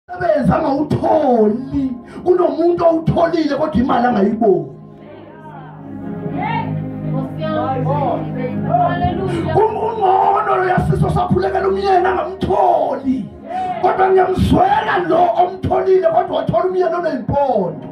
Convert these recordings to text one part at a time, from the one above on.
sebenza angawutholi kunomuntu owutholile kodwa imali angayiboni ungcono loyasiso saphulekela umyeni angamtholi kodwa ngiyamzwela lo omtholile kodwa wathola umyeni oneyimpondo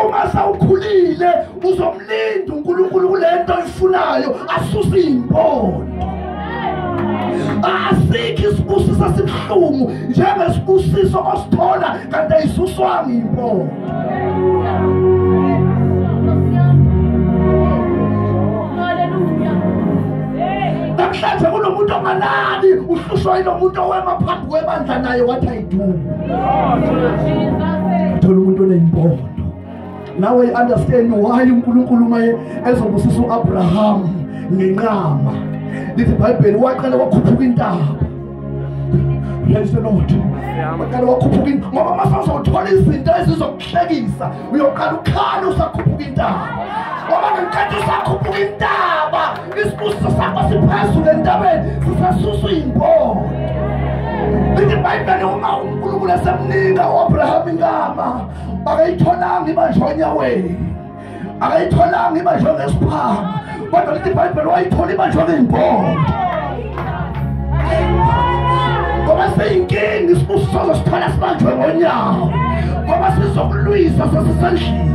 uma sawukhulile uzomlinda uNkulunkulu kulento oyifunayo asuse impondo asikho isibusiso esibuhlungu njengesibusiso osithola kanti ayisuswanga impondo namhlanje kunomuntu ongalali uhlushwa yilomuntu owema phambi kwebandla naye wathi dumo thola umuntu oneyimbondo nawe understand why uNkulunkulu maye ezobusisa uAbraham ngenqama lithi iBhayibheli waqala wakhuphuka intaba praise the lord waqala wakhuphuka ngoba mase uzothola izinto ezizokuhlekisa uyoqala ukhala usakhuphuka intaba ngoba ngenkathi usakhuphuka intaba isibusiso sakho siphezulu entabeni sisasuswa iy'mbono lithi ibhayibheli uma unkulunkulu esemnika u-abraham inkama akayitholanga ibanjwa onyaweni akayitholanga ibanjwa ngesiphanga kodwa lithi ibhayibheli wayithola ibanjwa ngey'mbono ngoba seyinkinga isibusiso sozosithola sibanjwe ngonyawo ngoba sizokulwisa sesisendlini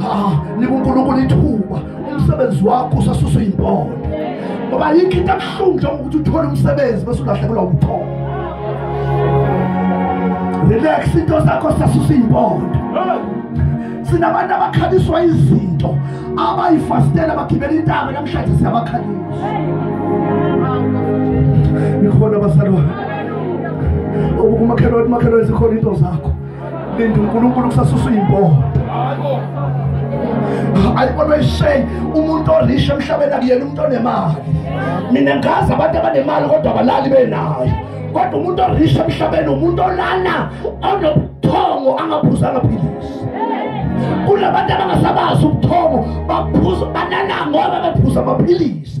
ah nika uNkulunkulu ithuba umsebenzi wakho usasuswa impondo ngoba yikho into ebuhlungu njengokuthi uthole umsebenzi bese ulahlekelwa ubuthongo relax into zakho sasusa impondo sinabantu abakhabiswa izinto abayifastela bagibela intaba namhlanje siyabakhalisa nikhona basalwa umakhelwane umakhelwane zikhona into zakho linda uNkulunkulu kusasusa imbobo ayibona ishay umuntu orisha emhlabeni akuyena umuntu onemali mina ngazi abantu abanemali kodwa abalali benayo kodwa umuntu orisha emhlabeni umuntu olana onobuthongo angaphuzanga philisi kunabantu abangasabazi ubuthongo baphuza banana ngoba bephuza amaphilisi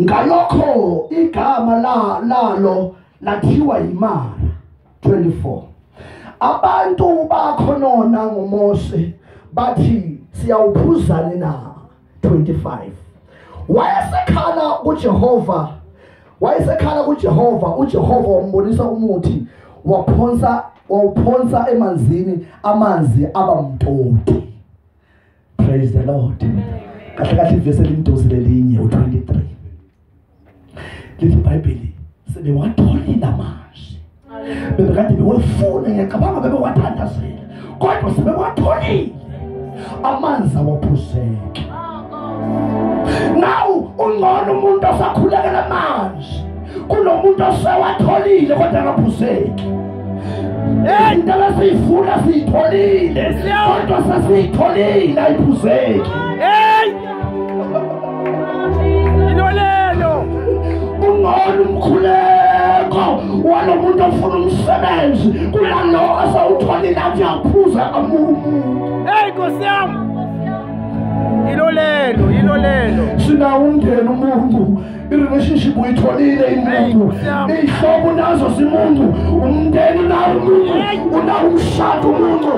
ngalokho igama la lalo lathiwa imara 24 abantu bakhonona ngoMose bathi siyawuphuzani na 25 wayesekhala kuJehova wayesekhala kuJehova uJehova wambonisa umuthi waphonsa wawuphonsa emanzini amanzi aba mtoti praise the lord kahle kahle ivesi elimdosi lelinye u23 lithi ibhayibheli sebewatholile namanje bebekade bewefuna ngiyacabanga bewathandazela kodwa sebewatholile amanzi awaphuzeke nawu ungcono umuntu osakhulekela manje kunomuntu osewatholile kodwa akaphuzeki into besiyifuna siyitholile kodwa sesiyitholile ayiphuzeki ungona umkhuleko walo muntu ofuna umsebenzi kulalo asawutholile athi aphuza kamuntu eyi nkosi yami yilo lelo yilo lelo sinawo umndeni umuntu irelationship uyitholile imuntu iy'hlobo unazo zimuntu umndeni unawo umuntu unawo umshado umuntu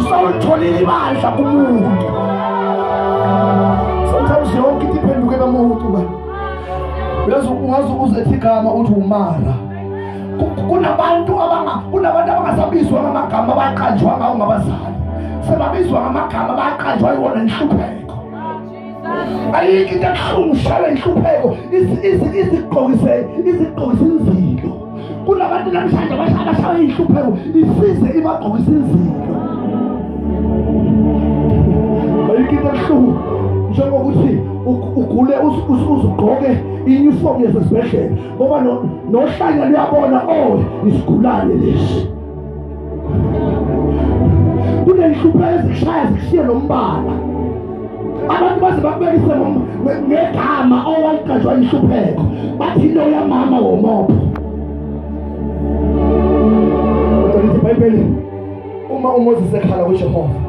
sawulitholile ibandla kumuntu sometimes yonke into iphenduke bamuntu ba uyazi ungaze uzethe igama uthi umara kunabantu kunabantu abangasabizwa ngamagama abaqanjwa ngawo ngabazali sebabizwa ngamagama abaqanjwa yiwona inhlupheko ayikho into akuhlungushala inhlupheko izigqokise izigqokise inzilo kunabantu namhlanje abashawe inhlupheko isize ibagqokise inzilo ayikho into akuhlungu njengokuthi ugule uzugqoke iyunifomu yasesibhedlela ngoba nohlanya luyabona o oh, isigulane lesi kunenhlupho ezishaya zishiye lombala abantu baze bakubekise ngegama owaliqanjwa inhlupheko bathi into yamama womopho kodwa lithi ibhayibheli uma umoses ekhala kujehova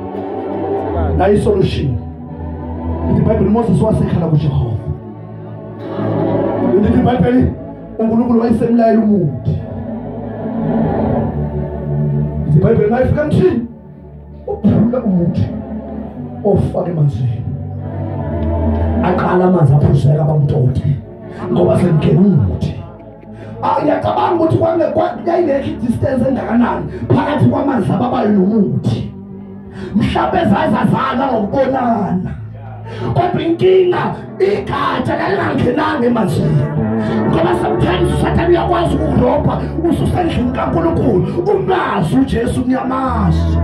nayo isolution lithi ibhayibheli umoses wasekhala kujehova lithi ibhayibheli uNkulunkulu wayesemlayela umuntu iBhayibheli mayifika mthini uphula umuthi ofake emanzini aqala amanzi aphuzeka bamtoti ngoba sengena umuthi ayacabanga ukuthi kwangekho yayingekho distance engakanani phakathi kwamanzi ababayo nomuthi mhlawumbe zazazana ngokubonana kodwa inkinga igatsha lalingangenanga emanzini ngoba sometimes usathane uyakwazi ukurobha ususendlini kankulunkulu umazi ujesu kuyamazi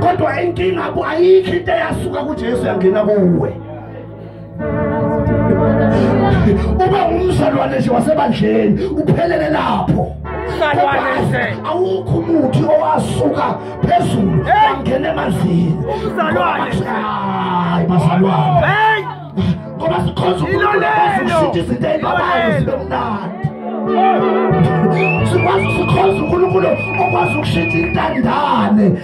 kodwa inkinga ayikho into eyasuka kujesu yangena kuwe uba umzalwane nje wasebandleni uphelele lapho awukho umuthi owasuka phezulu wangena emanzini hayi bazalwane ngoba sikhonza ukululekazishintsha izinto ey'babayo zibe mnandi sikwazi sikhonza unkulunkulu okwazi ukushintsha intandane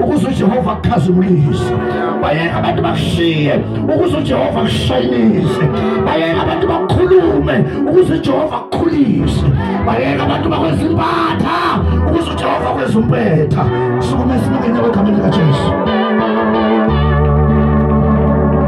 ukuze ujehova akukhazimulise bayeka abantu bakushiye ukuze ujehova akushayinise bayeka abantu bakukhulume ukuze ujehova akukhulise bayeka abantu bakwenza impatha ukuze ujehova kwenza umpetha sukumesibukenya kwegameni likajesu